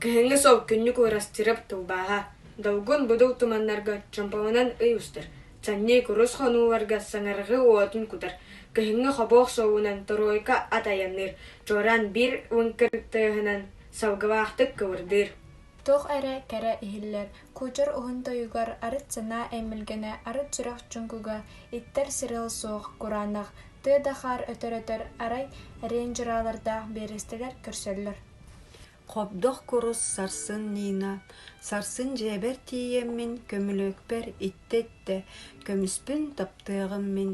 Кыһыҥҥы сол күннүк Уорасчырап тылбааһа, долгун будул туманнарга чомпоҕунан ый устар, чанньый курус хонууларга саҥарҕыы уотун кутар, кыһыҥҥы хобуох суоҕунан торуойка ат айанныыр, чуораан биир уҥ кырыктыаһынан салгылаахтык кыбырдыыр туох эрэ кэрэ иһиллэр кучер уһун тойугар арыт санаа эмилгэнэ арыт сүрэх чуҥкуга иттэр сырыал суох кураанах тыа да хаар өтөр-өтөр арай рейнджералардаах биэрэстэлэр көрсөллөр Хобдох курус сарсын Нина, сарсын дьиэбэр тиийэммин көмүлүөкпэр иттэ-иттэ көмүспүн таптыаҕым мин,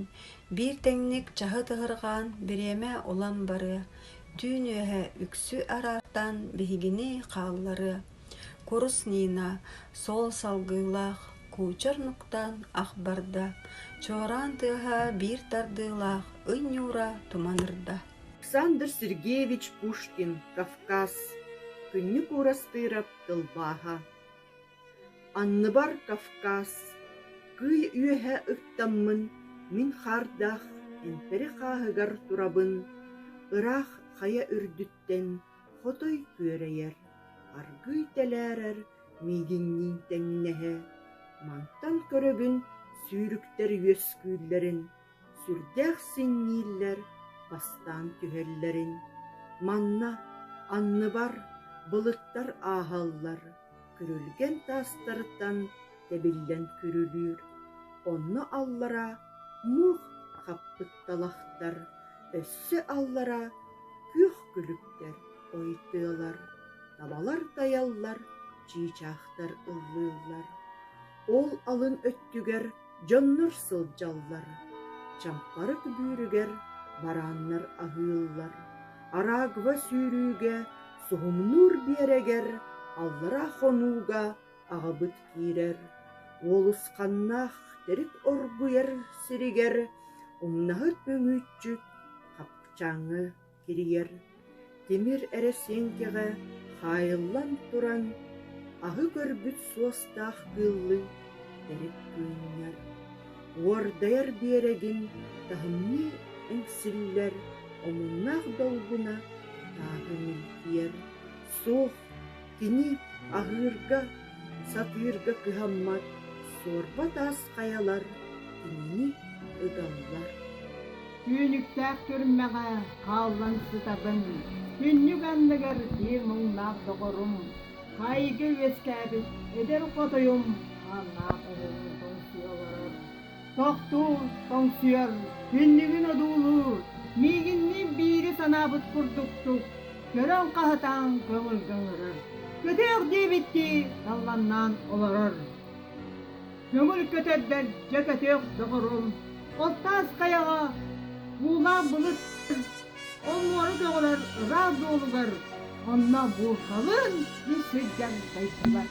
биир тэҥник чаһыт ыһырҕаан бириэмэ улам барыа, түүн үөһэ үксү араартаан биһигини хаалларыа. Курус Нина, суол салгыылаах, куучар нуктаан ах барда, чуораан тыаһа биир тардыылаах ый ньуура туманырда Александр Сергеевич Пушкин Кавказ Күннүк Уурастыырап тылбааһа Анныбар Кавказ Кыый үөһэ ыттаммын Мин хаардаах эмпэри хааһыгар турабын Ыраах хайа үрдүттэн Хотой күөрэйэр Аргыый тэлээрэр миигинниин тэҥнэһэ Мантан көрөбүн сүүрүктэр үөскүүллэрин сүрдээх сиҥнииллэр бастаан түһэллэрин, манна анныбар былыттар ааһаллар, күрүлгэн таастарыттан тэбиллэн күрүлүүр, онно аллара муох хаппытталахтар, өссө аллара күөх күлүктэр ойутуолар, табалар тайаллар, чыычаахтар ыллыыллар. Ол алын өттүгэр Дьоннор сылдьаллар, чампарык бүүрүгэр барааннар аһыыллар, араагва сүүрүүгэ, суһумнуур биэрэгэр, аллараа хонууга аҕабыт киирэр, уолусханнаах төрүт оргуйар сиригэр умнаһыт мүҥүүччүт хапчаҥы кирийэр, тимир эрэсиэҥкэҕэ хаайыллан туран, аһы көрбүт суостаах кыыллыы төрүт кыынньар, уордайар биэрэгин таһымныы эҥсиллэр, омуннаах долгуна таатыҥын тиэр Суох, кини аһыырга, сатыырга кыһаммат суорба таас хайалар кинини ыталлар. Түүнүктээх түрмэҕэ хааллан сытабын. Күннүк анныгар биир муҥнаах доҕорум, хаайыыга үөскээбит эдэр хотойум ааннаах оҕолору тоҥсуйа олорор. Тохтуур, тоҥсуйар, түннүгүн одуулуур, миигинниин биири санаабыт курдуктук, көрөн хаһытаан көҥүлгэ ыҥырар. Көтүөх диэбиттии далланнаан олорор. Көҥүл көтөрдөр дьэ көтүөх доҕорум, Оттаас хайаҕа уулаан былыт ол муора көҕүлэр ыраах дуолугар онно буурҕалыын үп сылдьан дайдыбат.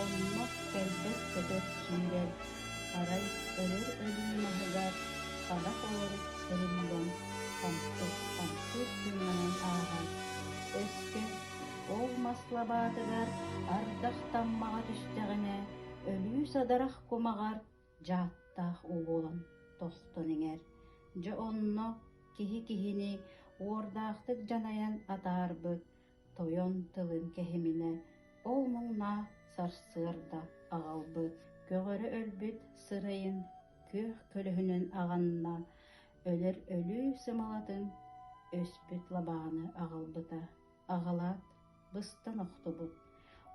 Оннук кэлбэт-көтөр сүүрэр, арай өлөр өлүү маһыгар ханах оҕурук сырымылын хамсык-хамсык тыынанан ааһан, өскө ол мас лабаатыгар ардах таммаҕа түстэҕинэ өлүү садарах кумаҕар дьааттаах уу буолан тостон иҥэр, дьэ онно киһи киһини уордаахтык дьанайан атаарбыт, Тойон тылын кэһиминэ ол муҥнаа сарсыарда аҕалбыт көҕөрө өлбүт сырайын күөх көлөһүнүн аҕынна, өлөр өлүү сымалатын өспүт лабааны аҕалбыта. Аҕалаат, быстан охтубут.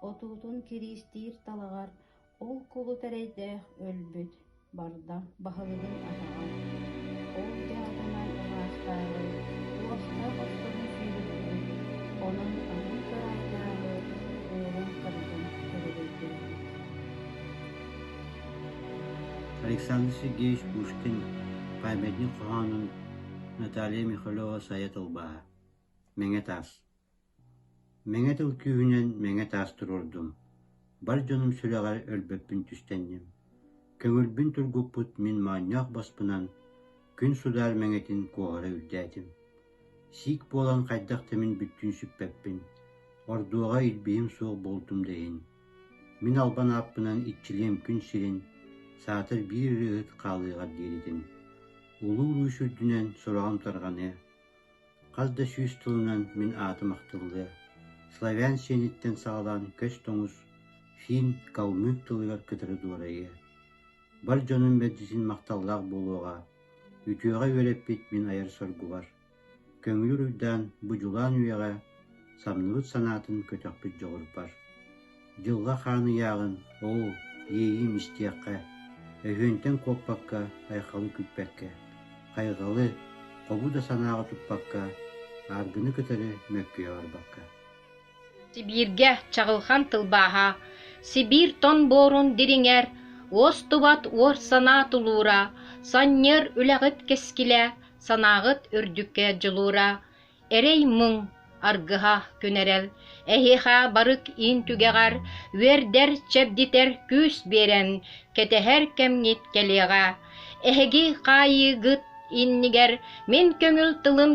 Отуутун кириистиир талаҕар Ол кулут эрэйдээх өлбүт, барда баһылыгын атаҕа, ол дьаатынан маастааҕы уостаах оттоһун киириттибит, онон атын кыраайдааҕы уолун кырдьын көлөгөйдөөбүт Александр Сергеевич Пушкин памятник хоһоонун Наталья Михалева-Сайа тылбааһа Мэҥэ таас Мэҥэ тыл күүһүнэн мэҥэ таас туруордум, бар дьонум сүрэҕэр өлбөппүн түстэнним, көҥүлбүн тургуппут мин моонньоох боспунан күн судаар мэҥэтин куоһара үрдээтим, сиик буолан хайдах да мин бүттүүн сүппэппин, ордуоҕа илбиһим суох буолтум да иһин, мин албан ааппынан иччилиэм күн сирин, саатар биир ырыаһыт хаалыаҕар диэритин, улуу-уруус үрдүнэн сороҕум тарҕаныа, Хас да сүүс тылынан мин аатым ахтыллыа, славян сиэниттэн саҕалаан көс тоҥус, финн, калмык тылыгар кытары дуорайыа. Бар дьонум мэлдьитин махталлаах буолуоҕа, үтүөҕэ үөрэппит мин айар соргубар. Көҥүл уруйдаан, бу дьулаан үйэҕэ самныбыт санаатын көтөхпүт дьоҕурбар. Дьылҕа хаан ыйааҕын, оо, иэйиим истиэххэ, өһүөнтэн куоппакка, айхалы күппэккэ, хайҕалы, хобу да санааҕа туппакка, ааргыны кытары мөккүйэ барбакка. Сибииргэ чаҕылхан тылбааһа, Сибиир тон буорун дириҥэр, уостубат уор санаа тулуура, Санньыар үлэҕит кэскилэ, санааҕыт үрдүккэ дьулуура, Эрэй-мыҥ, аргыһа күнэрэл, эһиэхэ барык иин түгэҕэр үөрдэр, чэбдитэр күүс биэрэн, кэтэһэр кэмҥит кэлиэҕэ. Эһиги хаайыыгыт иннигэр мин көҥүл тылым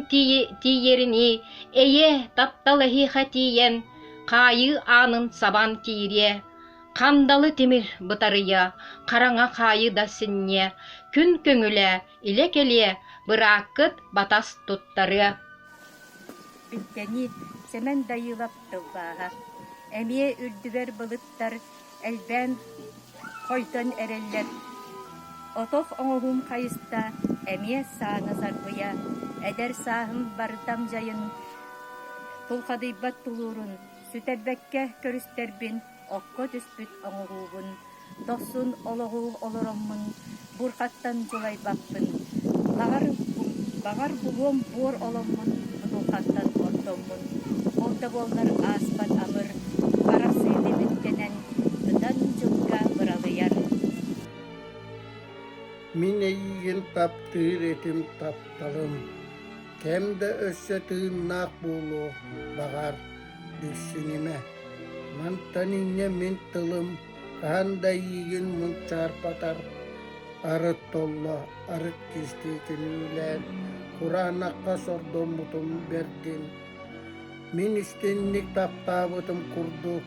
тиийэринии, эйэ, таптал эһиэхэ тиийэн, хаайыы аанын сабан киириэ. Хандалы тимир бытарыйа, хараҥа хаайыы да синньиэ, күн көҥүлэ, илэ-кэлиэ, бырааккыт батас туттарыа Үктэни Сэмэн Дайыылап тылбааһа, эмиэ үрдүбэр былыттар элбээн хойдон эрэллэр. Отох оҥоһуум хайыста, эмиэ сааны сарбыйа, эдэр сааһым бардам дьайын, тулхадыйбат тулуурун сүтэрбэккэ көрүстэрбин окко түспүт оҥоһуубун, дохсун олоҕу олороҥмун, бурҕаттан дьулайбаппын, баҕар, баҕар булуом буор оломмун, бутулҕаттан оттоммун, ол да буоллар ааспат амыр харах сыыны бүттэнэн, ытан дьылга быралыйар. Мин эйиигин таптыыр этим тапталым, кэм да өссө тыыннаах буолуо, баҕар. Билсинимэ, мантан инньэ мин тылым хаһан да эйиигин мунчаарбатар арыт толло арыт кистиитин үүнээн кураанахха сордоммутун бэрдин мин истинник таптаабытым курдук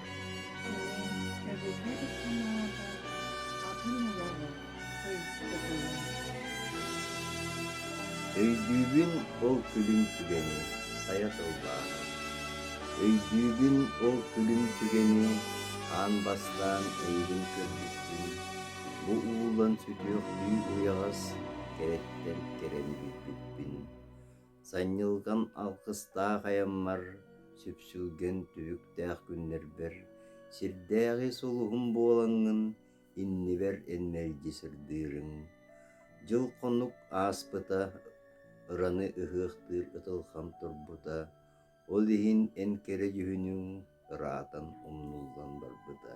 Кини эбэтэ икки-аҥаата атын олоҕу өйдөтөр. Өйдүүбүн ол күлүм түгэни сайа тыллааҕын. Өйдүүбүн ол күлүм түгэни хаан бастаан эйигин көрбүппүн. Бу уулан сүтүөхтүү уйаҕас кэрэттэн кэрэни билбиппин. Санньылҕам алгыстаах айаммар, сүпсүлгэн түбүктээх күннэрбэр, сирдээҕи сулуһум буолаҥҥын, иннибэр эн мэлдьи сырдыырыҥ. Дьыл-хонук ааспыта, ыраны ыһыахтыыр ытылҕам турбута, ол иһин эн кэрэ дьүһүнүҥ ыраатан умнуллан барбыта.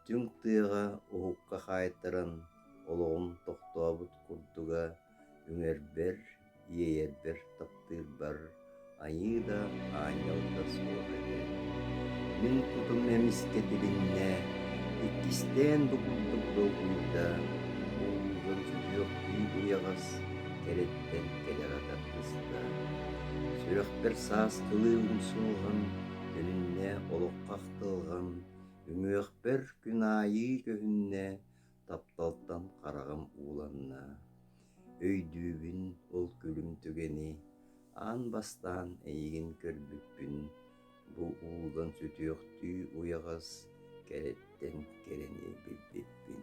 Түҥ тыаҕа уһукка хаайтаран, олоҕум тохтообут курдуга, үҥэрбэр иэйэрбэр таптыырбар Айыы да, Аанньал да суох этэ. Мин кутум эмискэ тилиннэ, иккистээн да курдук долгуйда, омугум сүтүөхтүү уйаҕас кэрэттэн кэлэ гатар кыста. Сүрэхпэр саастылыы умсулҕан, үнүннэ олоххо ахтылҕан, үҥүөхпэр күн аайы көһүннэ, тапталтан хараҕым ууланна, өйдүүбүн ол күлүм түгэни аан бастаан эйигин көрбүппүн бу уулан сүтүөхтүү уйаҕас кэрэттэн кэрэни билбиппин